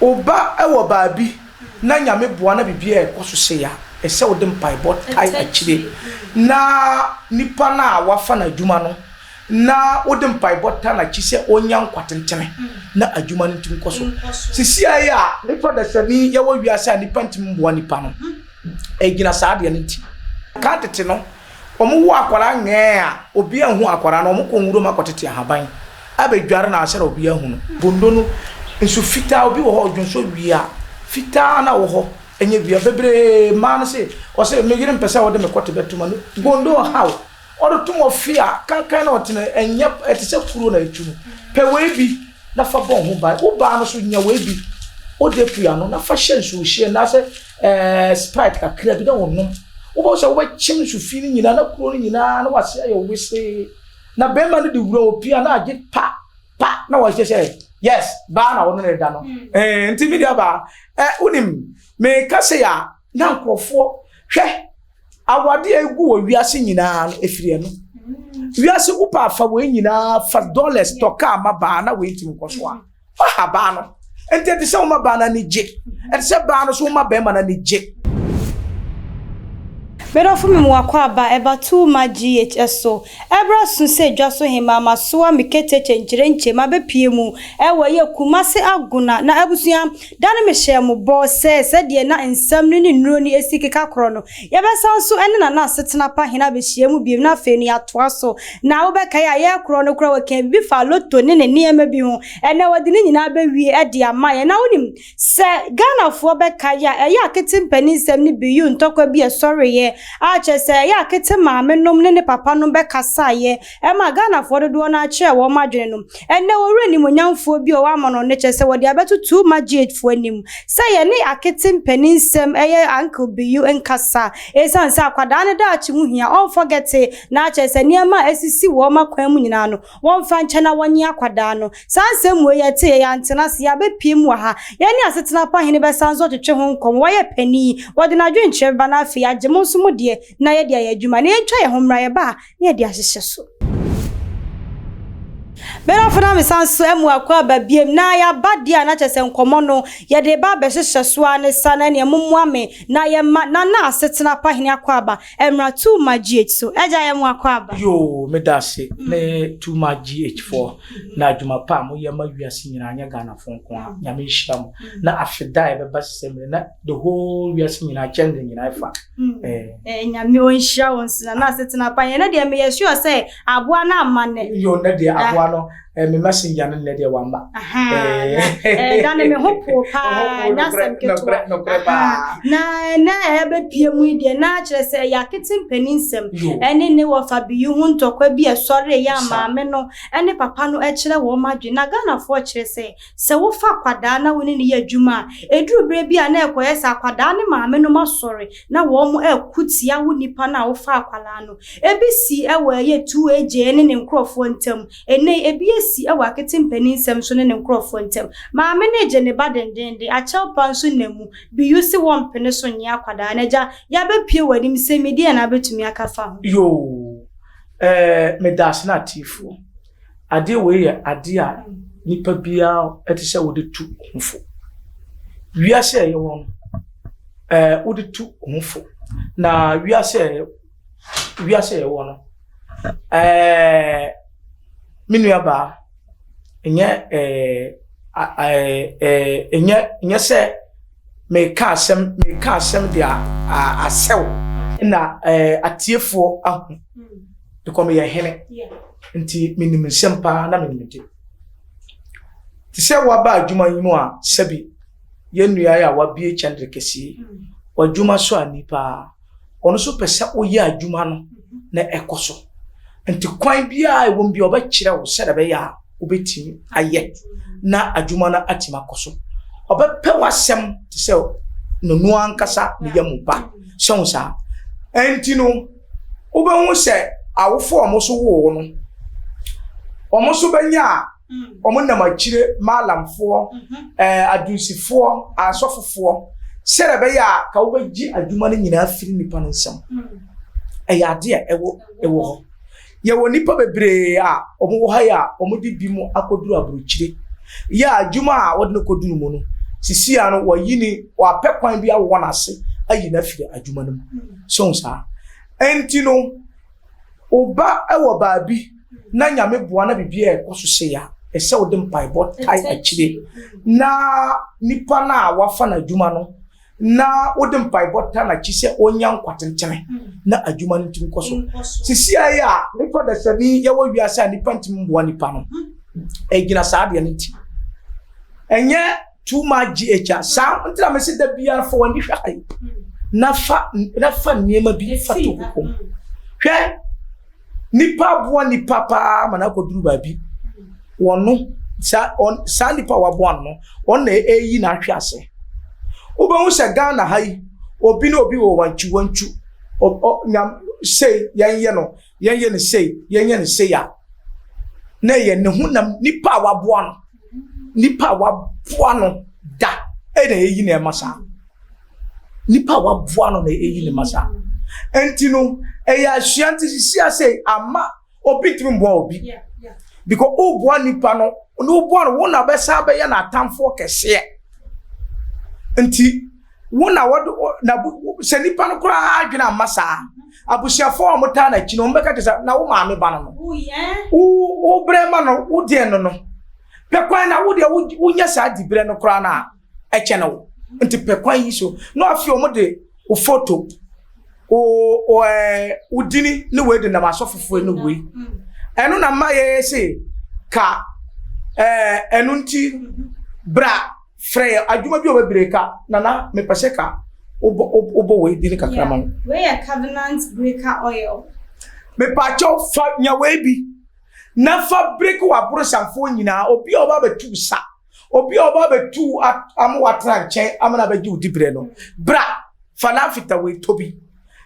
Wo ba wɔ baabi na Nyame boa na biribiara rekɔ so sei a, ɛsɛ wode mpaebɔ tae akyire na nipa no a wafa no adwuma no na wode mpaebɔ ta no akyi sɛ ɔnya nkwa tentene na adwuma no nti nkɔ so. Sisia yi a nipa dasani yɛwɔ wiase a nipa ntimi mboa nipa no, ɛgyina saa adeɛ no nti. Kan tete no, Wɔn wo akwadaa nyɛɛ a obia nhu akwadaa no wɔn kɔ nwura mu akɔ tete ahaban abɛ dware no ansɛ na obia ahu no. Bondo no nso fitaa obi wɔ hɔ odwonsɔ wia fitaa na wɔ hɔ ɛnyɛ wia bebree mmaa no se wɔse me yere mpɛ sɛ ɔde me kɔ tebɛ toma no bondo ɔhaw ɔde tom wɔ fie a kankan na ɔte no ɛnyɛ ɛte sɛ kuro na etu no pɛ wei bi na fa bɔ ho ban wo baa no so nya wei bi ode pua no na fa hyɛ nsuo hyɛ na sɛ. Ɛɛ Sprite kakra bi na wɔnom. Wobɛhu sɛ wobɛkyem nsu fi no nyinaa na kuro no nyinaa na wase ayɛ wesee. Na bɛrima no de wura opia na agye pa pa na wɔhyɛ sɛ yes baa na wɔne no da no. Hmm. Ɛɛ nti mi deɛ baa ɛ wonim meka sɛ a na nkurɔfoɔ hwɛ awadeɛ a egu wɔ wiase nyinaa no efiri ɛno. Hmm. Wiase wopɛ afa wei nyinaa fa dollars tɔ kaa ma baa na wei ntumi nkɔ so a. Hmm. Fa ha baa no. Nti ɛte sɛ woma baa no ani gye. Ɛte sɛ baa no so woma bɛrima no ani gye. Medɔfo me wakɔ aba ɛba too ma GH ɛso ɛbra so sɛ dwa so hemaa masoa me ketekye nkyerenkye mabɛ pie mu ɛwɔ ɛyɛ Kumasi Agona na abusua da no mehyɛɛ mo bɔ sɛ sɛdeɛ na nsɛm no ne nnuro no ɛsi keka korɔ no Yɛbɛsan nso ne Nana Asetena Pa Hene abɛhyiam bio, na afei no yɛatoa so. Na wobɛkae a, yɛn korɔ no koraa wɔkaa biribi faa Lotto ne ne nneɛma bi ho. Ɛnnɛ wɔde ne nyinaa bɛwie de ama yɛn. Na wonim, sɛ Ghanafoɔ bɛkae a, ɛyɛ Akete mpaninsɛm no bi, Yoo ntɔkwa bi a ɛsɔreeɛ, a kyerɛ sɛ ɛyɛ Akete maamenom ne ne papanom bɛkasaeɛ, ɛma Ghanafoɔ dodoɔ no ara kyerɛɛ wɔn adwene no. Ɛnnɛ wɔwura animuonyamfoɔ bi a ɔwɔ amanɔne no kyerɛ sɛ wɔde abɛto two magyeatfoɔ anim sɛ yɛne Akete mpanin nsɛm ɛyɛ Uncle Biyu nkasa ɛsiane sɛ akwadaa no daakye ho hia ɔnfɔgɛte na akyerɛ sɛ nneɛma a ɛsisi wɔn akwan mu nyinaa no wɔmfa nkyɛ na wɔnye akwadaa no. Saa nsɛm wei yɛteeɛ yɛantena ase yɛabɛpue mu wɔ ha. Yɛne Asetena Pa Hene bɛsan nso atwetwe ho nkɔmmɔ. Wayɛ panin, wɔde n'adwenkyerɛ bɛba na afei agye mo nso mo deɛ na yɛde ayɛ adwuma na yɛntwa yɛn ho mmra yɛba a ne yɛde ahyehyɛ so. Benafo na mesan so amu akɔ aba biom na yɛaba deɛ a na kyerɛ sɛ nkɔmmɔ no yɛde reba abɛhyehyɛ so ara ne sa na ɛneɛ mommoa me na yɛmma Nana Asetena Pahene akɔ aba mmra Tuma GH so. Agya yɛn mo akɔ aba. Yoo, meda ase me Tuma GH foɔ na adwuma pa a moyɛ ma wiase nyinaa nyɛ Ghana foɔ nko ara. Nyame nhyira mo na afe da a ɛbɛba sesɛ mmerɛ na. the whole wiase nyinaa kyɛn de nyinaa fa. Hmm. Eh. Eh, nyame ɔnhyira wo nsena na asetena pa yɛn deɛ meyɛ sure sɛ aboa no amma nnɛ yo nnɛ deɛ aboa no eh, me messenger no nnɛ deɛ wamma da ne me ho poo paa nyasɛm ketewa na ɛnɛ a ɛbɛpie mu deɛ na akyerɛ sɛ ɛyɛ atete mpani nsɛm ɛne ne wɔfa biyi ho ntɔkwa bi ɛsɔre yɛ amaame no ɛne papa no ɛkyerɛ wɔn adwene na ghanafoɔ kyerɛ sɛ Sɛ wofa akwadaa na wo ne no yɛ adwuma a, ɛduru berɛ bi a na ɛkɔyɛ sɛ akwadaa no maamenom asɔre na wɔreko tia wo nipa no a wofaa akwadaa no. Ebi sii wɔ ɛyɛ 2AJ ne ne nkorɔfoɔ ntam. Ɛnnɛ yi, ebi asi wɔ Akete mpaninsɛm so ne ne nkorɔfoɔ ntam. Maame no regye ne ba dendeenden, akyɛw pa nso nam mu. Biyu se wɔmpene so nnye akwadaa no. Agya, yɛabɛpue w'anim sɛ me deɛn na wobɛtumi aka afa ho? Yoo, ɛɛ, medaase n'atiefo. Adeɛ wei yɛ adeɛ a nipa biara ɛte sɛ wode tu ho fo. Wiase a ɛyɛ hɔ no, ɛɛ wode tu ho fo. Na wiase a ɛyɛ wiase a ɛyɛ hɔ no, ɛɛ me nua baa ɛnyɛ ɛɛ ɛɛ ɛnyɛ ɛnyɛ sɛ. Mereka asɛm mereka asɛm de asɛw na atiefoɔ ahu because meyɛ hene nti menim nsɛm paa na menim de te sɛ waba adwuma yi mu a sɛbi yɛn nua a wabie kyɛndere kɛseɛ wadwuma so ani paa Ɔno nso pɛ sɛ woyɛ adwuma no na ɛkɔ so. Nti kwan biara ɛwɔ mu bi ɔbɛkyerɛ wo sɛdeɛ ɛbɛyɛ a wobɛtumi ayɛ na adwuma no atumi akɔ so. Ɔbɛpɛ w'asɛm te sɛ nono ankasa ne yɛ mu ba. Sɛ wo saa. Nti no, wobɛhu sɛ awofoɔ a wɔn so woo no, wɔn so bɛnya a wɔn nam akyire maalamfoɔ ɛɛ adunsifoɔ asɔfofoɔ sɛdeɛ ɛbɛyɛ a ka wobɛgye adwuma no nyinaa firi nipa no nsam ɛyɛ adeɛ a ɛwɔ ɛwɔ hɔ yɛwɔ nipa bebree a wɔn wɔ ha yɛ a wɔn de bi mu akɔduru aburukyire yɛ adwuma a wɔde no kɔduru mu no sisi a no wɔyi ne wɔapɛ kwan bi awɔ wɔn ase ayi no afiri adwuma no mu so nsaa ɛnti no. Wo ba wɔ baabi na Nyame boa na biribi ɛɛkɔ so sei a, ɛsɛ wode mpaebɔ tae akyire na nipa no a wafa no adwuma no na wode mpaebɔ ta n'akyi sɛ ɔnya nkwa tentene na adwuma no ntumi kɔ so. Sisi a yɛ a nipa dasani yɛwɔ wiase a nipa ntumi mmoa nipa no ɛgyina saa adeɛ no nti. Ɛnyɛ too much gh a saa nti na mese da biara fa w'ani hwɛ ayi na fa na fa nneɛma bi fa to wo kɔn hwɛ nipa aboa nipa paa ma n'akɔduru baabi wɔn no saa wɔn saa nipa a waboa no wɔn na ɛreyi n'ahwɛ ase wobɛhu sɛ ghana ha yi obi ne obi wɔ wankyiwankyi ɔ ɔ nyam sei yɛn yɛ no. yɛnyɛ no sei yɛnyɛ no sei a na ɛyɛ ne honam nipa a waboa no nipa a waboa no da ɛna ɛyi na ɛma saa nipa a waboa no na ɛyi ne ma saa nti no ɛyɛ asua nti sisi ase ama obi ntumi mboa obi because woboa nipa no ne woboa no wo na bɛsa bɛyɛ no atamfoɔ kɛseɛ nti wo na wɔde na sɛ nipa no koraa adwene amma saa abusuafoɔ a wɔtaa no akyi no wɔbɛka kyerɛ sɛ na wo maame ba no no wobrɛ ma no wodeɛ no no pɛ kwan na wodeɛ wonya saa diberɛ no koraa no a ɛkyɛ no wo nti pɛ kwan yi so na afei wɔde wo foto wo dini ne wei de nam asɔfofoɔ no wei ɛno na mma yɛyɛ se ka ɛno nti bra Frɛ yɛ adwuma bi a wɔbɛbrɛ ka nana mepɛ sɛ ka wobɔ wobɔ wei bi ne kakra ma ho. Wei yɛ covenant breaker oil. Mepaakyɛw fa nya wei bi na fa break w'aborosanfoɔ nyinaa obi a ɔba abɛtu sa obi a ɔba abɛtu ama watena nkyɛn ama na abɛgye wo dibrɛ no bra fa lamfita wei tɔ bi.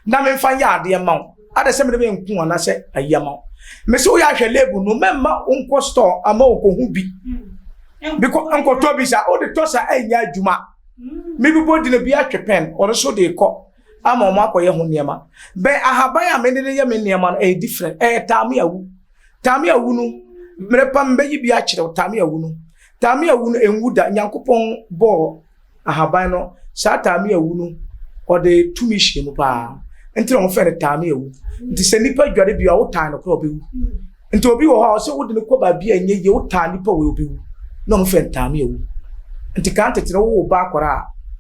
na memfa nyɛ adeɛ mma wo adɛ sɛ mede me nko ho anaasɛ ayi ama wo mese woyɛ ahwɛ label no mɛmma wonkɔ store ama wokɔhu bi because nkɔtɔ bi sa wode tɔ sa ɛnyɛ adwuma mebibɔ dina bi atwe pɛn ɔno so de kɔ ama ɔmo akɔyɛ ho nneɛma bɛ ahaban a mede de yɛ me nneɛma no ɛyɛ different ɛyɛ taame awu taame awu no mmerɛ pa mbɛyi bi akyerɛw taame awu no taame awu no ɛnwu da nyankopɔn bɔɔ ahaban no saa taame awu no ɔde tumi hyɛ mu paa nti na wɔfrɛ no taame awu nti sɛ nipa dware bi a wotaa no korɔ ɔbɛwu nti obi wɔ hɔ a ɔsɛ wode no kɔ baabi a ɛnyɛ yie wotaa nipa wɔ ɔbɛwu na wɔfrɛ no taame awu nti kan tete no wowɔ ba akɔra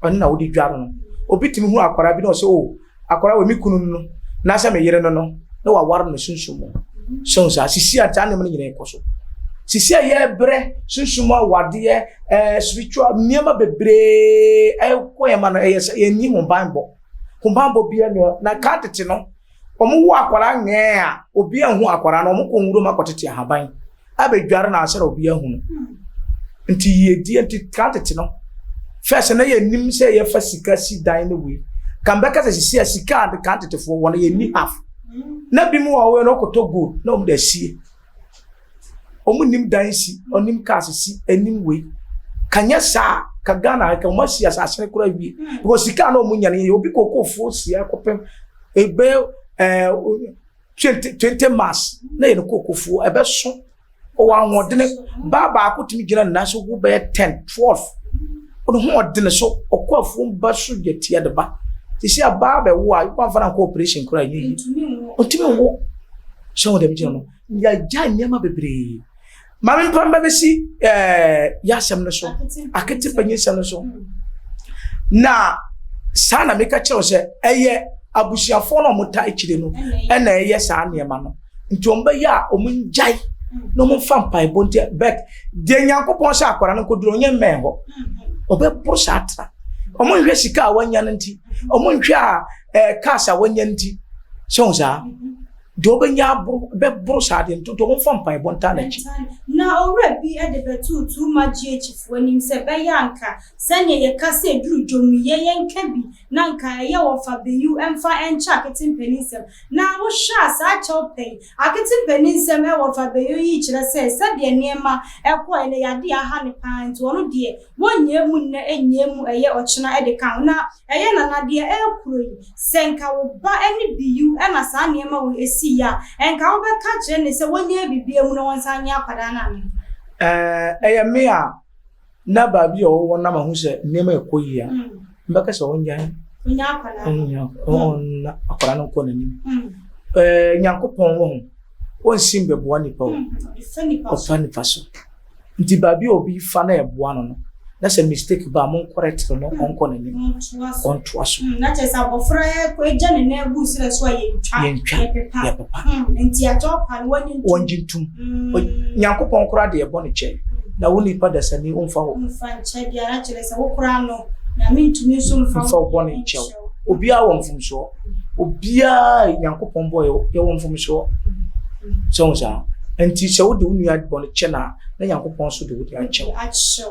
a ɔne na wode dware no obi tumi hu akɔra bi na ɔsɛ o oh, akɔra wɔ me kunu no na sɛ me yere no no na waware no sunsum mu sɛ saa sisi a saa nneɛma no nyinaa ɛkɔ so sisi a yɛbrɛ sunsum mu awadeɛ ɛɛ eh, spiritual nneɛma bebree ɛkɔ yɛn ma no ɛyɛ sɛ yɛn nyi ho banbɔ ho banbɔ bi ɛnua na kaa tete no wɔn wo akɔra nyɛɛ a obi ɛho akɔra no wɔn kɔ nwuram akɔtete ahaban. abɛdware no ansa na obi ahu no nti yiedie nti kan tete no fɛs na yɛnim sɛ yɛfa sika si dan no wei kan bɛka sɛ sisi a sika ade kan tetefoɔ wɔ no yɛnni half na bi mu wɔ wei no ɔkɔtɔ gold na wɔn de asie wɔn nim dan si ɔnim kaa sisi anim wei kanyɛ saa ka ghana ka wɔn asi asase no koraa wie because sika na wɔn nya no yɛ obi kɔkɔɔfoɔ si akɔpɛm ebe ɛɛ. Eh, 20 20 mas na yɛ ne kookofuo ɛbɛso ɔwɔ ahoɔdene baa baako tumi gyina ne nan so wo bɛyɛ 10 12 ɔno ho ɔdene so ɔkɔ afuom ba so yɛ tia de ba te sɛ abaa bɛwo a wamfa no ankɔ operation koraa ɛnyɛ yi ɔntumi nwo sɛ wo dɛm gyina no yɛagya nneɛma bebree Maame mpam bɛ bɛsi ɛɛ eh, yasɛm no so akete panyinsɛm no so na saa na meka kyerɛw sɛ ɛyɛ abusuafoɔ no a wɔta akyire no ɛna ɛyɛ saa nneɛma no nti wɔn bɛyɛ a wɔn ngyae na wɔn mfa mpaebɔ nti bɛt deɛ nyankopɔn sɛ akwadaa no nkɔduro ɔnyɛ mmɛn hɔ ɔbɛboro saa atena wɔn nhwɛ sika a wɔanya no nti wɔn nhwɛ a ɛɛ eh, cars a wɔanya nti sɛ wɔn saa. Deɛ ɔbɛnya aboro bɛboro saa adeɛ no, ntonto momfa mpaebɔ ntaa n'akyi. Na owura bi de bɛtoo Tuuma GHfoɔ anim sɛ ɛbɛyɛ a anka sɛdeɛ yɛka sɛ duru dwom yi, yɛ yɛnka bi na anka ɛyɛ wɔfa bayiw mfa nkyɛ Akete mpaninsɛm. Na wohwɛ a saa kyɛw pɛ yi, Akete mpaninsɛm wɔ fa bayiw yi kyerɛ sɛ sɛdeɛ nneɛma kɔɔɛ no, yɛade aha no pa ara nti ɔno deɛ wɔnyɛɛ mu nnɛ nyɛɛ mu ɛyɛ ɔkyena de ka ho. Na Ɛyɛ Nana deɛ ɛyɛ kuro yi. Sɛ nka wo ba ne biyu na saa nneɛma wei ɛsi yɛ a, ɛnka wo bɛ ka kyerɛ ne sɛ wɔ nyɛ bibi amu na wɔn san nyɛ akwadaa no anaa? Ɛɛ ɛyɛ me a na baabi a ɔwɔ na ma hu sɛ nneɛma ɛkɔ yie a, me bɛ ka sɛ wɔn gyae na akwadaa no nkɔ n'anim. Ɛɛ Nyankopɔn wɔ ho, wɔn nsi mbɛboa nipa o, ɔfa nipa so. Nti baabi a obi fa na ɛboa no no, na sɛ mistake ba a, monkɔrɛtere no, ɔnkɔ n'anim, ɔntoa so. Na kyerɛ sɛ abɔfra gya ne nan gu nsrɛ so a, yɛntwa, yɛpepa. yɛpepa. Nti agya ɔpa no, wɔnye ntom. Wɔnye ntom. Nyankopɔn koraa de ɛbɔ ne kyɛ, na wo nipa dasani, ɔmfa wo. Mfa nkyɛ biara, kyerɛ sɛ wo koraa no, Nyame ntumi nso mfa wo bɔne nkyɛ wo. obiara wɔ mfomsoɔ obiara nyankopɔn bɔ yɛwɔ mfomsoɔ sɛ wo saa nti sɛ wode wo nua bɔ no kyɛ no a na nyankopɔn so de wode akyɛw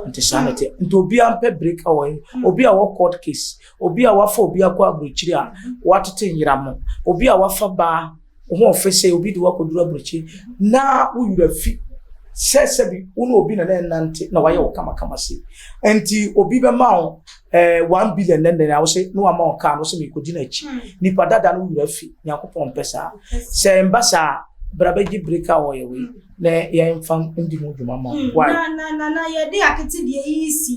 nti saa na ɛte nti obiara mpɛ break awɔ hmm. obi a wɔ court case obi a wafa obi akɔ aburokyiri a watete nyera mo obi a wafa baa wo ho ɔfɛ sɛ obi de wakɔduru aburokyi na wo werɛ fi sɛ sɛbi wo ne obi na na ɛnante na wayɛ wo kamakama se nti obi bɛma wo eh, one billion nɛnɛ na wo se ne wama wo kaa no sɛ mekɔdi no akyi hmm. nipa dada no wo werɛ fi nyankopɔn mpɛ saa sɛ mba saa bra bɛgye break a wɔyɛ wei Na yɛmfa ndi ho dwuma ma wo. Why? Na, na, na yɛde akete deɛ yi si.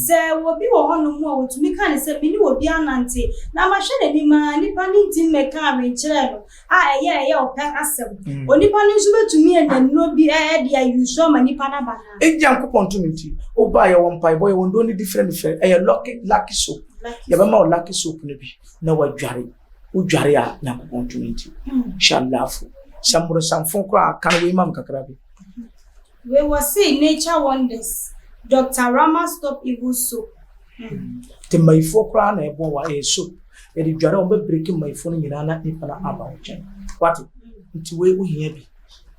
Sɛ obi wɔ hɔnom a wɔtumi ka no sɛ, Me ne obi anante, na mahwɛ n'anim ara, nnipa no ntumi mmɛka nnwenkyerɛ no a ɛyɛ, ɛyɛ ɔpɛ asɛm. Onipa no nso bɛtumi anya nnuro bi de ayi so ama nnipa no aba no ara. Enti Nyankopɔn tumi nti, wobaa, yɛwɔ mpaebɔ, yɛwɔ nnuro no bi frɛ no, frɛ, ɛyɛ lucky, lucky soap. Yɛbɛma wo lucky soap no bi, na woadware. wodware a nyankopɔn tumi nti hyɛ alaafo sɛ mmorosanfo koraa ka no wei ma m kakra bi wei wɔ sei nature wonders dr rama stop evil soap nti mmayifoɔ koraa na ɛbɔ wa ɛyɛ soap yɛde dware wɔn bɛbreki mmayifoɔ no nyinaa na nipa no aba wo nkyɛn wate nti wei wohia bi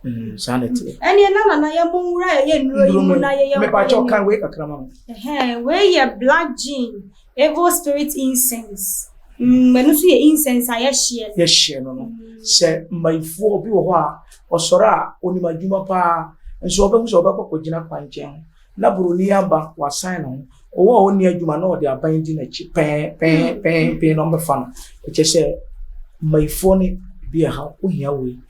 Mm, saa na ɛteɛ ɛneɛ na nana yɛ mo nwura yɛyɛ nnuro yi mu na yɛyɛ mepakyɛ ɔkan wei kakra ma no wei yɛ black jean Evil spirit incense, mm, ɛno nso yɛ incense a yɛhyeɛ no. Yɛhyeɛ no no. Sɛ mmayifoɔ bi wɔ hɔ a, ɔsɔre a onim adwuma paa, nso ɔbɛhu sɛ ɔbɛkɔ kɔgyina kwankyɛn ho, na buroni aba wasan ne ho. Ɔwɔ a ɔnni adwuma na ɔde aban di n'akyi pɛn pɛn hmm. pɛn pɛn na ɔbɛfa no. Ɛkyɛ sɛ mmayifoɔ no bi ɛha wohia wei.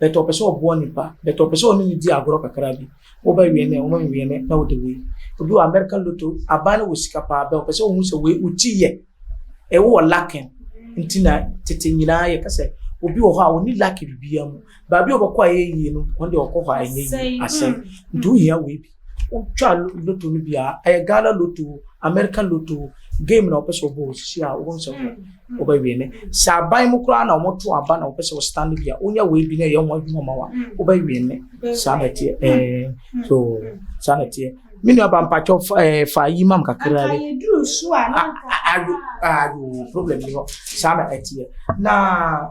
but ɔpɛ sɛ ɔboa nipa but ɔpɛ sɛ ɔne ne di agorɔ kakra bi woba wie ne ɔma nwie ne na wode wei obi wɔ america loto aban no wɔ sika paa bɛ ɔpɛ sɛ ɔhu sɛ wei woti yɛ ɛwo wɔ lakin nti na tete nyinaa yɛ kasɛ obi wɔ hɔ a ɔni laki biribiara mu baabi a ɔbɛkɔ a ɛyɛ yie no ɔno deɛ ɔkɔ hɔ a ɛnyɛ yie asɛe nti wohia wei bi Wotwa lotto no bi a, ɛyɛ Ghana lotto, American lotto, game na wɔpɛ sɛ wɔbɔ wɔ sisi a wɔn sɛ wɔbɛwie ne. Sɛ aban mu koraa na wɔto aba na wɔpɛ sɛ wɔstan no bi a, wonya wei bi na ɛyɛ wɔn adwuma ma wa, wobɛwie ne. Saa na ɛteɛ ɛɛ so saa na ɛteɛ. Me nua ba mpakyɛw fa ɛɛ eh, fa yi mam kakra bi. Atayeduru so a na nka. Ayo ayo problem ni hɔ saa na ɛteɛ na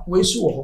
wei so wɔ hɔ.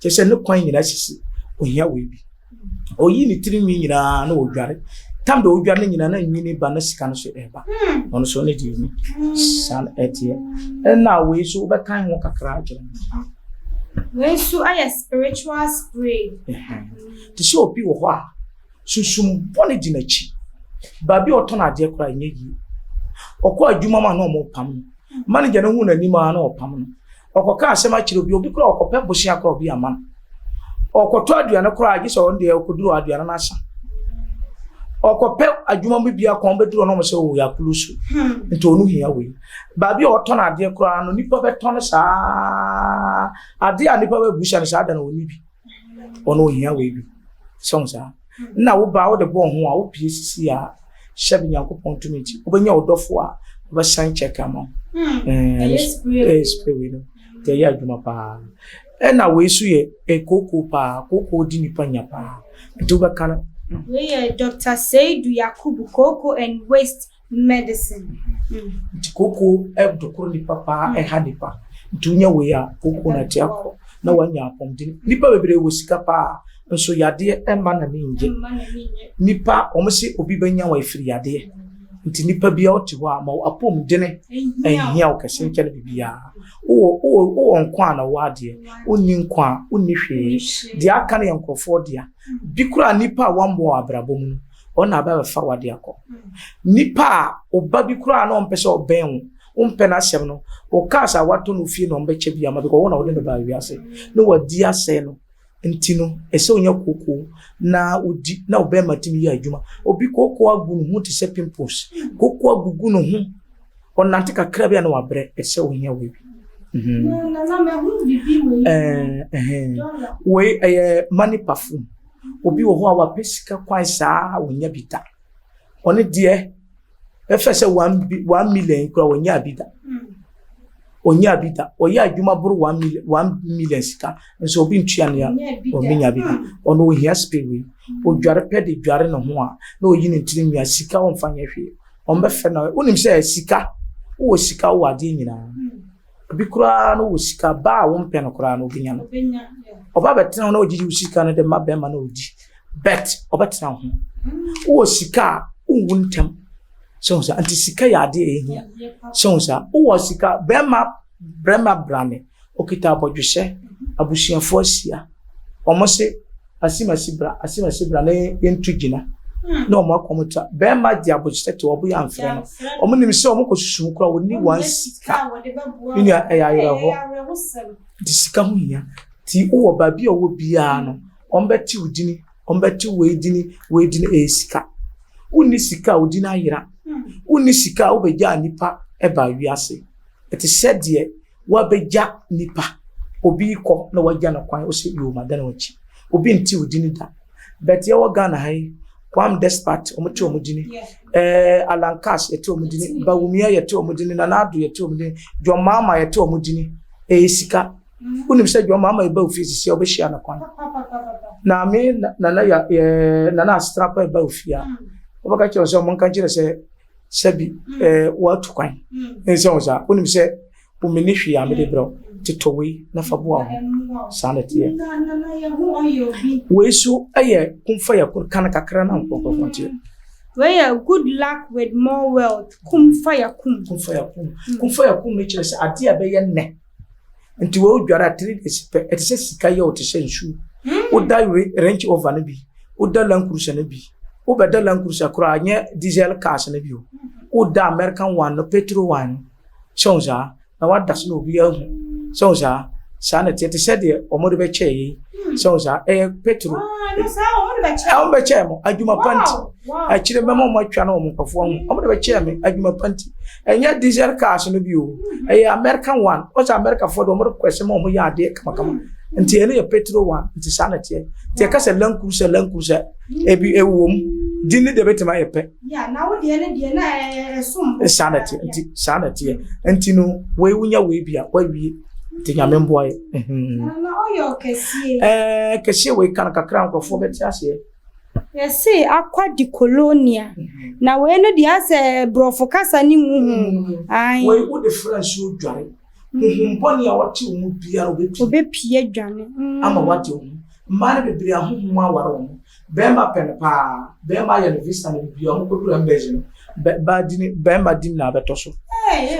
kyerɛ sɛ ne kwan nyinaa sisi ohia wei bi ɔyi ne tiri nwi nyinaa na ɔdware tam da ɔdware no nyinaa na nwini ba na sika no so ɛba hmm. ɔno so ne deɛ ni saa no ɛteɛ ɛna wei so wobɛkan ho kakra akyerɛ wei so ayɛ spiritual spray te sɛ obi wɔ hɔ a sunsum bɔne gyina akyi baabi a ɔtɔn adeɛ koraa ɛnyɛ yie ɔkɔ adwuma ma na ɔmo pam no hmm. manager no hu n'anim a na ɔpam no Ɔkɔka asɛm akyerɛ obi, obi koraa ɔkɔpɛ bosea koraa obi ama no. Ɔkɔtɔ aduane koraa gye sɛ ɔno deɛ ɔkɔduru aduane no asa. Ɔkɔpɛ adwuma mu bia kɔn bɛduru ɔno ɔmo sɛ ɔwɔ akulu so hmm. nti ɔno hia wei. Baabi a ɔtɔn adeɛ koraa no nipa bɛtɔ no saa adeɛ a nipa bɛbusa no saa da na ɔni bi ɔno ɔhia wei bi sɛ ɔmo saa. Nna wo baa wode bɔɔ ho a wopue sisi a hyɛ do Nyankopɔn tumi ntsi wobenya wo dɔfo a ɔbɛsan check ama wo ɛɛ spray wei no ntsi ɛyɛ adwuma paa ɛna wei so yɛ kookoo paa kookoo di nipa nya paa ntsi wobɛka no. Wei yɛ Doctor Seidu Yakubu kookoo and waste. medicine. nti koko ɛdo koro nipa paa ɛha nipa nti wonya wei a koko na ɛte akɔ na wanya apɔmuden nipa bebree wɔ sika paa nso yadeɛ ɛma na ne ngye nipa wɔn si obi bɛnya wɔn efiri yadeɛ nti nipa bi a ɔte hɔ a ma apɔmuden ɛhia wɔ kɛse nkyɛn bibiara wowɔ wowɔ wowɔ nko a na wɔ adeɛ wonni nko a wonni hwee deɛ aka no yɛ nkorɔfoɔ deɛ bi koraa nipa a wɔn bɔ abrabɔ mu no. Wɔn na bɛbɛfa wo ade akɔ. Nipa a ɔba bi koraa na ɔmpɛ sɛ ɔbɛn wo, wompɛ n'asɛm no, wo cars a watɔ no fie na ɔmbɛkyɛ bi ama because wɔn na wɔde no baa wiase na wɔadi asɛe no. Nti no, ɛsɛ onya kookoo na odi na wo bɛrima tumi yɛ adwuma. Obi kookoo agu ne ho te sɛ pimples, kookoo agugu ne ho, ɔnante kakra bi a na wabrɛ, ɛsɛ ohia wei bi. Mm-hmm. Nana, mahu bibi wei. Eh, eh, wei ɛyɛ money perfume. Obi wɔ hɔ a wapɛ sika kwan saa a ɔnya bi da. Ɔno deɛ bɛfɛ sɛ one million kura ɔnyaa bi da. Ɔnyaa bi da. Ɔyɛ adwuma boro one million one million sika nso obi ntua nea ɔmenya bi da. Ɔno ohia spirit wei. Odware pɛ de dware ne ho a na oyi ne ntiri nwia sika ɔmfa nyɛ hwee. Ɔmbɛfɛ na wonim sɛ sika wowɔ sika wowɔ adeɛ nyinaa. Ebi koraa no wɔ sika, ba a wompɛ no koraa no obenya no. Ɔba bɛtena ho na ogyigye wo sika no de ma bɛrima na odi. Bet ɔbɛtena ho. Wowɔ sika a wonwu ntɛm. Sɛ wo sa, nti sika yɛ ade a ehia. Sɛ wo sa, wowɔ sika, bɛrima bɛrima brane, okita abɔdwesɛ, abusuafo ahyia. Wɔn se Asimasi bra, asimasi bra na yɛntu gyina. Na wɔn akɔ wɔn ta. Bɛrima de abokyerɛ te wɔbo yɛ amfrɛ no. Wɔn nim sɛ wɔn kɔ susu ho koraa wɔn ni wɔn sika. Ne nua ɛyɛ ayerɛhɔ. Nti sika ho hia. Nti wowɔ baabi a ɔwɔ biara no, wɔn bɛte wo dini, wɔn bɛte wei dini, wei dini ɛyɛ sika. Wonni sika a wo dini ayera. Wonni sika a wobɛgyaa nipa ɛbaa wiase. Ɛte sɛ deɛ. Woabɛgya nipa. Obi rekɔ na woagya no kwan, wose yoo madane w'akyi. Obi nte wo dini da. But yɛwɔ Ghana ha yi, Kwam Despot, wɔte wɔn dini. Eh, Alan Cass, yɛte wɔn dini. Bawumia, yɛte wɔn dini. Nana Addo, yɛte wɔn dini. John Mahama, yɛte wɔn dini. Ɛyɛ sika. Wonim sɛ John Mahama ɛba ofie sisi a wobɛhyia no kwan. Na me Nana ya eh, Nana Asetra pa ɛba ofie a, wobɛka kyerɛ sɛ wɔn nka kyerɛ sɛ sɛbi ɛɛ woatu kwan nsɛ wo saa wonim sɛ womene hwee a mede berɛ totɔ wei na fa boa ho saa na ɛteɛ wei so ɛyɛ kumfa yɛ koro ka no kakra na nkɔnkɔnkɔ nteɛ wei yɛ good luck with more wealth kumfa yɛ kum kumfa yɛ kum kumfa yɛ kum no kyerɛ sɛ adeɛ a ɛbɛyɛ nnɛ nti wɔ dware a three days pɛ ɛte sɛ sika yɛ ɔte sɛ nsuo hmm. woda range over no bi woda land cruiser no bi wobɛda land cruiser koraa nyɛ diesel cars no bi o woda american one no petrol one sɛ wo saa na wada so na obi ahu sɛ wo saa saa na ɛteɛ te sɛ deɛ wɔde bɛkyɛ yi hmm. sɛ wo saa ɛyɛ petrol wɔn bɛkyɛ mo adwuma panti akyire mɛma wɔn atwa na wɔn nkɔfoɔ ho wɔn de bɛkyɛ me adwuma panti. Ɛnyɛ diesel cars no bio. Ɛyɛ American one. Wɔsɛ Americafoɔ de wɔn rekɔ ɛsɛ ma wɔn yɛ adeɛ kamakama. Nti ɛno yɛ petrol one. Nti saa na ɛteɛ. Nti ɛka sɛ land cruiser land cruiser ebi ɛwɔ mu. Din ne deɛ bɛtuma yɛ pɛ. Yeah, na wo deɛ ne deɛ na ɛsom. Saa na ɛteɛ. Nti saa na ɛteɛ. Nti no wei wonya wei bia wawie. Nti nyame mboa yɛ. Na ɔyɛ ɔkɛseɛ. Ɛɛ kɛseɛ wei kan kakra nkorɔfoɔ bɛte aseɛ. Yɛsee akwa di kolonia. Na wei no deɛ asɛ borɔfo kasa ne mu hu. Ae. Wei wode fra nsuo dware. Huhum bɔne a wɔte wo mu biara obɛpie. Obɛpie dwane. Ama wate wo ho. Mmaa no bebree ahohom aware wɔn. Bɛɛma pɛ no paa. Bɛɛma ayɛ no visa no bebree a wɔn kɔduru embassy no. Baa di ne bɛɛma dim na abɛtɔ so.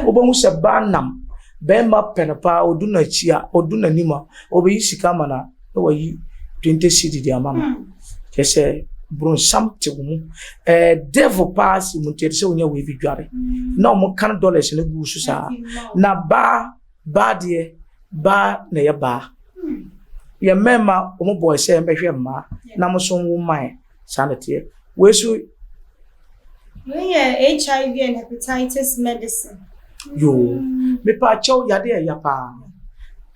Wobɛhu sɛ baa nam. Bɛɛma pɛ no paa odu no akyi a odu nanim a obɛyi sika ama no a. na wayi twenty cedi de ama no kyerɛ sɛ bronsam te wo mu ɛɛ eh, devil paa si mu nti ɛde sɛ wonya wei bi dware na wɔn kan dollars no gu so saa na baa baa deɛ baa na ɛyɛ baa yɛn mmarima wɔn bɔɔ sɛ mbɛhwɛ mmaa na mo so nwo mmaa Saa na ɛteɛ. Wei so. Wei yɛ HIV and hepatitis medicine. Yoo. Mepa akyɛw yade a ɛya paa.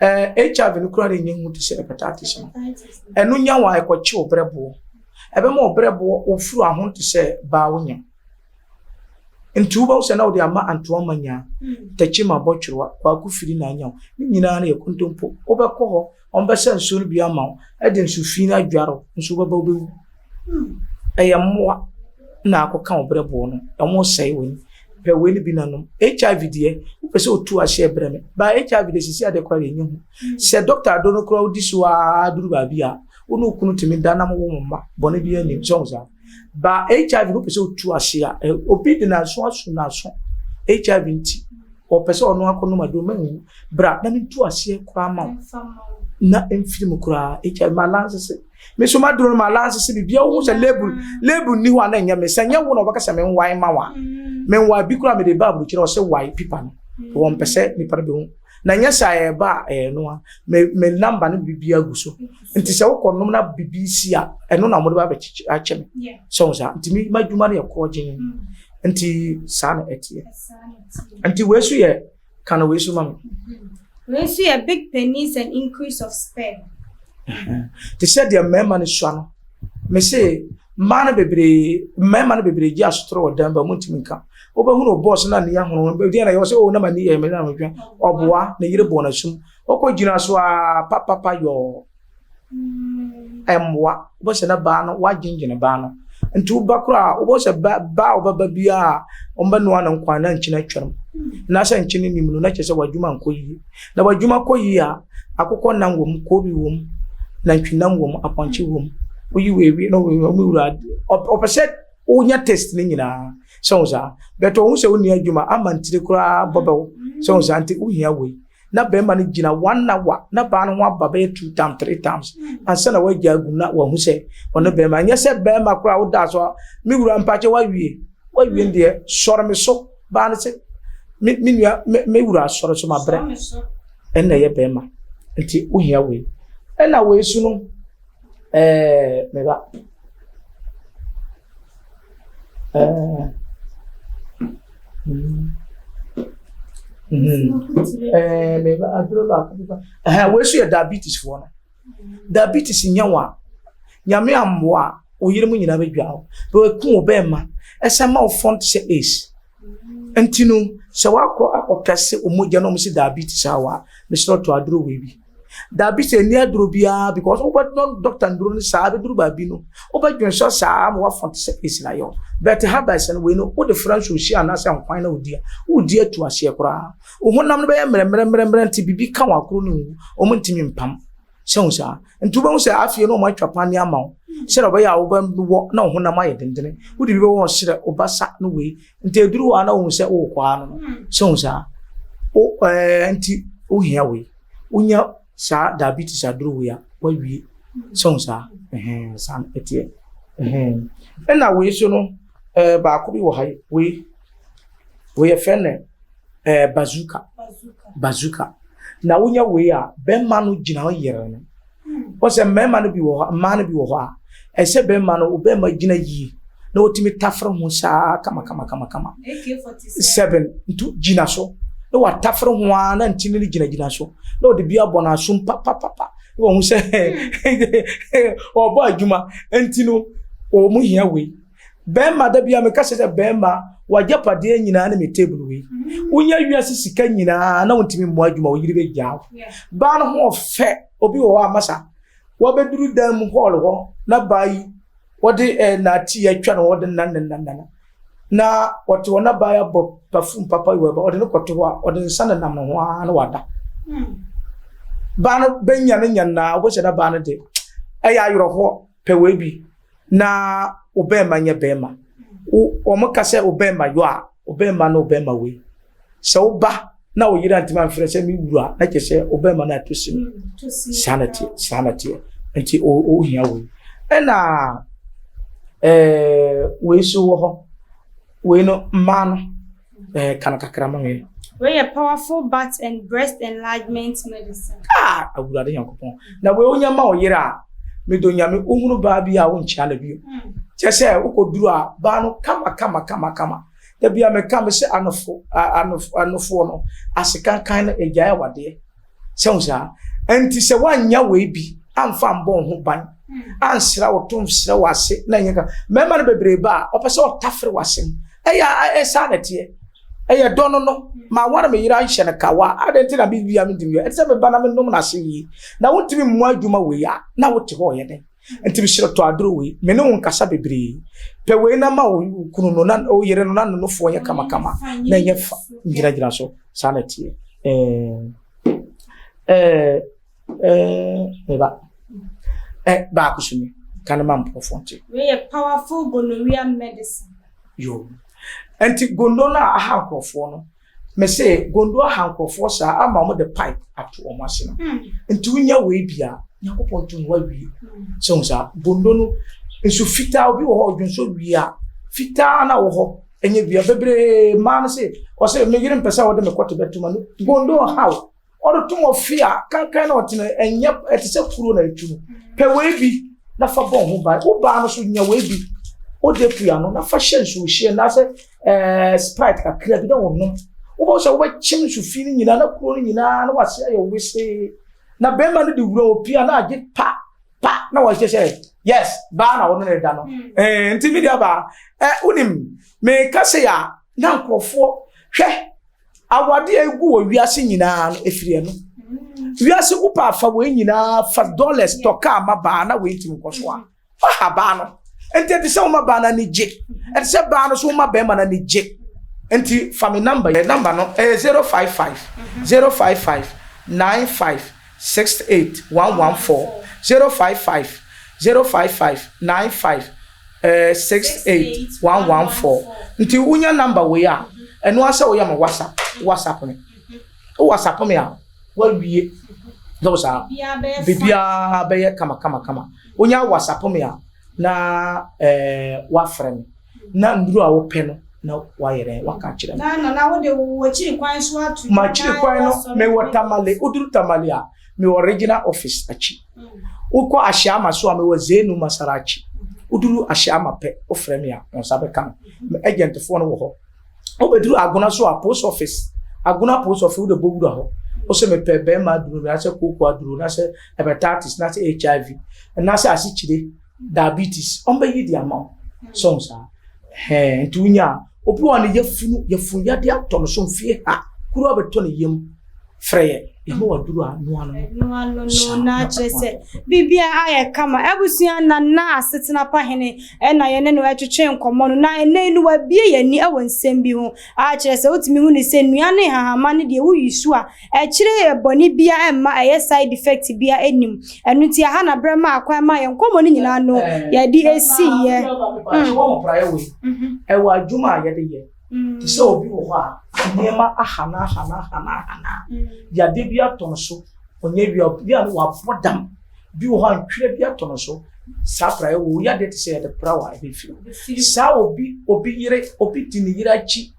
Ɛɛ HIV no kura de nyɛ hu te sɛ hepatitis no. Ɛno nya wa ɛkɔkye ɔbrɛboɔ. Ɛbɛma ɔbrɛboɔ ofuru aho te sɛ baa wonya. Nti wobɛhu sɛ na wode ama antoa ma nya. Tɛkyi ma bɔtwerwa kwaku firi na anya wo. Ne nyinaa no yɛ kontompo. Wobɛkɔ hɔ Wɔbɛsa nsuo no bi ama wo, ɛde nsu fi no adware wo, nso wobɛba wobɛwu. Ɛyɛ mmoa na akɔka wo berɛboɔ no, ɛho sɛe w'ani. Pɛ wei no bi na nom. HIV deɛ, wopɛ sɛ otu ahyɛ brɛ me. Ba HIV deɛ sisi adeɛ koraa deɛ ɛnyɛ hu. Sɛ dɔkta do no koraa wodi so ara duru baabi a, wo ne wo kunu tumi da na mowo mo mma, bɔne biara nnim. Sɛ wohu saa? Ba HIV no pɛ sɛ otu ase a, obi de n'aso aso n'aso. HIV nti, ɔpɛ sɛ ɔno akɔnom aduro ma nwu. Bra na mentu aseɛ koraa ma wo. Na mfiri mu koraa. HIV ma lanse se. Me so maduro no ma lanse se biribi a wohu sɛ label label nni hɔ a na ɛnyɛ me. Sɛ nyɛ wo na wɔbɛka sɛ menwae ma wo a. Menwae bi koraa mede ba aburokyire ɔse wae pipa no. Wɔmpɛ sɛ nipa no bɛhu. Na nyɛ sɛ a ɛba a ɛyɛ no a me me number ne biribiara gu so. nti sɛ wokɔ nom na bibi si a ɛno na wɔde ba abɛkyekye akyɛ me sɛ wɔn saa nti mi ma adwuma no yɛ korɔ gyen mm. nti saa na ɛteɛ nti wei so yɛ kan wei so ma mi. Mm-hmm. wei so yɛ big penis and increase of sperm. te sɛ deɛ mmarima no sua no mese mmaa no bebree mmarima no bebree gye asotoro wɔ dan ba mu ntumi nka wobɛhunu bɔɔs no a ne yɛ ahono deɛ na yɛwɔ sɛ o oh, na ma ne yɛ mmerɛ na mehwɛ ɔboa ne yere bɔɔ no asum Ɔkɔ gyina so aa papapa yɔɔ ɛmboa wobɛ sɛ na baa no wagyengyene baa no nti woba koro a wobɛ sɛ baa a ɔbɛba bi a ɔmbɛ noa no nkwan na nkyene atwam na sɛ nkyene nim no na kyɛ sɛ wadwuma nkɔ yie na wadwuma kɔ yie a akokɔ nam wɔ mu koobi wɔ mu nantwi nam wɔ mu apɔnkye wɔ mu woyi wɔ ewie na wɔn mu wura ɔpɛ sɛ wonya test ne nyinaa sɛ wo saa bɛtɔ wo sɛ wo nua adwuma ama ntiri koraa bɔbɛwo sɛ wo saa nti wohia wei na barima no gyina one hour na baa no ho aba bɛyɛ two times three times ansa na wagya agu na wahu sɛ ɔne barima nyɛ sɛ barima koraa woda so a me wura mpakyɛ wawie wawie deɛ sɔre me so baa no sɛ me me nua me me wura sɔre so ma brɛ ɛna ɛyɛ barima nti wohia wei ɛna wei so no. Eh, me ba. Eh. Mm. Mm. Eh, me ba, aduro baako bi ba. Eh, wei so yɛ diabetes foɔ no. Diabetes nyɛ wɔn a, nyame ammoa a, oyere mu nyinaa bɛdwa hɔ. Bɛku wo bɛɛma, ɛsɛ ma wo fɔn te sɛ ace. Nti no, sɛ wakɔ akɔka se ɔmo gya na ɔmo se diabetes a wa, mesrɛ ɔtɔ aduro wei bi. Diabetes ɛni aduro biara because wobɛ no doctor nduro no saa bɛduru baabi no wobɛ dwen sɔ saa ma wafɔn te sɛ esi na yɛw. But herbals no wei no wode fra nsuohyia anaasɛ nkwan na wodi a, wodi atu aseɛ koraa. Wo honam no bɛyɛ mmerɛmmerɛmmerɛmmerɛ nti bibi ka wɔn akoro no nwu, ɔmo ntumi mpam. sɛ hu saa nti wobɛhu sɛ afei na wɔatwa pane ama wo sɛdeɛ ɔbɛyɛ a wobɛwɔ na wo honam ayɛ dendene wode bi bɛwɔ ɔserɛ wobasa no wei nti ɛduru hɔ a na wohu sɛ worekɔa no no sɛ hu saa nti wohia wei wonya saa diabetes aduru wei a woawie sɛ hu saa saa no ɛteɛ ɛna wei so no baako bi wɔ ha wei wei yɛfrɛ no Ɛɛ eh, bazooka. Bazooka. Na wonya wei a, bɛrima no gyina hɔ yere no. Wɔsɛ mmarima no bi wɔ hɔ, mmaa no bi wɔ hɔ a, ɛsɛ bɛrima no, bɛrima gyina yie na wɔtumi tafere ho saa kama kama kama kama. Seven, ntu gyina so. Na watafere ho ara na ntini no gyinagyina so. Na ɔde bi abɔ n'asom papapapa. Na wɔn sɛ ɔbɔ adwuma. Nti no, wɔn hia wei. Bɛɛma da bia meka sɛ sɛ bɛɛma w'agyapadeɛ nyinaa ne me table wei wonya wiase sika nyinaa na wontumi mmoa adwuma wo yere bɛgyaa wo baa no ho ɔfɛ obi wɔ hɔ a masa wabɛduru dan mu hɔɔl hɔ na baa yi wɔde eh, naati atwa no wɔde nanananana na wɔte hɔ na baa yi abɔ perfume papa yi wɔba wɔde no kɔto hɔ a wɔde nsa no nam no ho ara na wada hmm. baa no bɛnya no nya naa wobɛhyɛ na baa no de ɛyɛ ayerɛhoɔ Pɛ wei bi na wo bɛɛma nyɛ bɛɛma. Wo wɔn ka sɛ wo bɛɛma yɔ a, wo bɛɛma na wo bɛɛma wei. Sɛ wo ba na wo yere antumi amfrɛ sɛ me wura na kyɛ sɛ wo bɛɛma na ato sim. Saa na teɛ, saa na teɛ. Nti o o hia wei. Ɛna ɛɛ wei so wɔ hɔ. Wei no mmaa no. Eh, ka no kakra ma me. Wei yɛ powerful butt and breast enlargement medicine. Ah, awurade nyankopɔn. Na wei wonya ma wo yere a, medɔ nyame wohunu baa bi a wonkyia no bio. Hmm. Kyɛ sɛ wokɔduru a baa no kama kama kama kama. Da bi a meka me sɛ anofo anofoɔ no asekankan no agyae awadeɛ. sɛ wo saa ɛnti sɛ woanya wei bi amfa mbɔ wo ho ban hmm. ansra wo tom srɛ wo ase na ɛnyɛ ka mmarima no bebree ba a ɔpɛ sɛ ɔtafere w'asɛm ɛyɛ ɛsaa na ɛteɛ ɛyɛ dɔ no no hmm. ma wɔn a meyira nhyɛ no kawa adan ti na bi bi a mi di mi ɛsɛ mi ba na mi nom na se yie na wotumi mu adwuma wei a na wote hɔ ɔyɛ dɛ. Nti mehyerɛ tɔ aduro wei. Me ne wo nkasa bebree. Pɛ wei na ma wo kunu no na wo yere no na no nofoɔ nyɛ kamakama na ɛnyɛ fa gyinagyina so. Saa na ɛteɛ. Ɛɛ ɛɛ meba. Ɛ baako so ni ka ne ma mpɔfoɔ nkyɛ. Wei yɛ powerful gonorrhea medicine. Yo. Nti gondo no a aha nkurɔfoɔ no Me se Gondoa ha nkurɔfoɔ saa ama wɔn de pipe ato wɔn ase no. Hmm. Nti wonya wei bia Nyankopɔn nto no wawie. Hmm. Sɛ wɔn saa Gondo no nso fitaa obi wɔ hɔ ɔdwo nso wia fitaa na wɔ hɔ ɛnyɛ wia bebree mmaa no se ɔsɛ me yere mpɛ sɛ wɔde me kɔte bɛtoma no Gondo ha o. Ɔde to wɔ fie a kankan na ɔtena ɛnyɛ ɛte sɛ kuro na etu no pɛ wei bi na fa bɔ ho ban wo baa no so nya wei bi ɔde pia no na fa hyɛ nsuo hyɛ anaasɛ ɛɛ sprite kakra bi na ɔnom wobɛhu sɛ wobɛkyem nsu fi no nyinaa na kuro no nyinaa na wase ayɛ wesee na bɛrima no de wura wɔ pia na agye pa pa na wɔhyɛ sɛ yes baa na wɔne no da no hmm. ɛɛ nti mi deɛ baa ɛɛ wonim meka sɛ yɛ a na nkurɔfoɔ hwɛ. Awade a egu wɔ wiase nyinaa no efiri ɛno. Wiase gu pa afa wei nyinaa fa dollars tɔ kaa ma baa na wei ntumi nkɔ so a fa ha baa no. Nti ɛte sɛ woma baa no ani gye. Ɛte sɛ baa no so woma bɛrima no ani gye. Nti fa me number yi. Number no ɛyɛ zero five five zero five five nine five six eight one one four zero five five zero five five nine five Eh six eight one one four nti wonya number wei a ɛno ara sɛ woyɛ me whatsapp whatsapp me wo whatsapp me a woawie sɛ wo saa biribiara bɛyɛ kama kama kama wonya whatsapp me a na eh, woafrɛ me na nnuro a wopɛ no na wayɛ dɛn waka kyerɛ me makyiri kwan no mewɔ tamale woduru tamale a mewɔ regional office akyi wokɔ ahyiama so a mewɔ zenu masara akyi woduru ahyiama pɛ wofrɛ me a wɔn nsa bɛka no me agentfoɔ no wɔ hɔ wobɛduru agona so a post office agona post office wode bɔ wura hɔ wosɛ mepɛ bɛrima aduro nasɛ kooko aduro nasɛ hepatitis nasɛ hiv nasɛ asekyire diabetes ɔmbɛyi de ama wo so n saa hɛn nti wonya a obi wɔ ne yafunu yafunu yɛde atɔ no so mfie ha kuro abɛtɔ ne yam frɛ yɛ yɛma waduru a noa no noa no no na akyerɛ sɛ biribia ayɛ kama abusua na na asetena pa hene ɛna yɛne no ɛtwetwe nkɔmmɔ no na ɛnɛ no wabie yɛni ɛwɔ nsɛm bi ho akyerɛ sɛ wotumi hu ne sɛ nnua ne hahama ne deɛ woyi so a Akyire yi bɔne biara ɛmma ɛyɛ side effect biara ɛnim. Ɛno nti aha na berɛ maa kwan maa yɛn nkɔmmɔ no nyinaa no yɛde ɛsiiɛ. Mepaakyɛw wɔ mo praeɛ wei. Ɛwɔ adwuma a yɛde yɛ. Te sɛ obi wɔ hɔ a nneɛma aha no aha no aha no aha no a, yadeɛ bi atɔ no so, ɔnyɛ awia, obi a wabɔ dam, bi wɔ hɔ a ntwerɛ bi atɔ no so, saa praeɛ wei, wo yadeɛ te sɛ yɛde pra wo a ɛbɛfiri wo. Saa obi, obi yere, obi di ne yere akyi.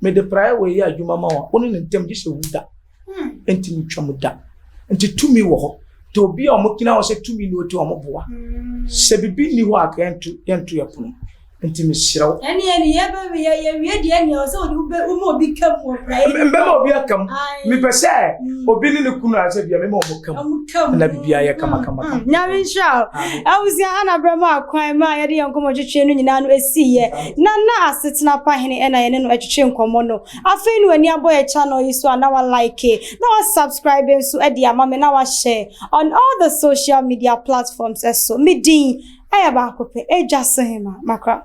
Mede praeɛ wei yɛ adwuma ma wɔn a wɔne no ntam gye sɛ owu da ntumi ntwa mu da. Nti tumi wɔ hɔ. Nti obi a wɔgyina hɔ sɛ tumi na ɔti wɔn boa. Sɛ biribi nni hɔ a ka yɛnto yɛnto yɛ pono. Nti mesrɛ wo. Ɛne ɛne yɛbɛwe yɛ yɛwie deɛ ɛne ɛwɔ sɛ wode woma obi ka mu wɔ praeɛ no. Mbɛma obi aka mu. Mepɛ sɛ obi ne ne kunu asɛ bia mema wɔn ka mu. Na biribiara yɛ kama kama kama. Nyame nhyira wo. Abusua Hannah brɛ mu akwan ma yɛde yɛn nkɔmmɔtwetwe no nyinaa no ɛsiiɛ. Na na asetena pa hene ɛna yɛne no ɛtwetwe nkɔmmɔ no afei na wani abɔ yɛ channel yi so a na wa like na wa subscribe nso ɛde ama me na wa share on all the social media platforms ɛso me din ɛyɛ baako pɛ Edwasohema Makra.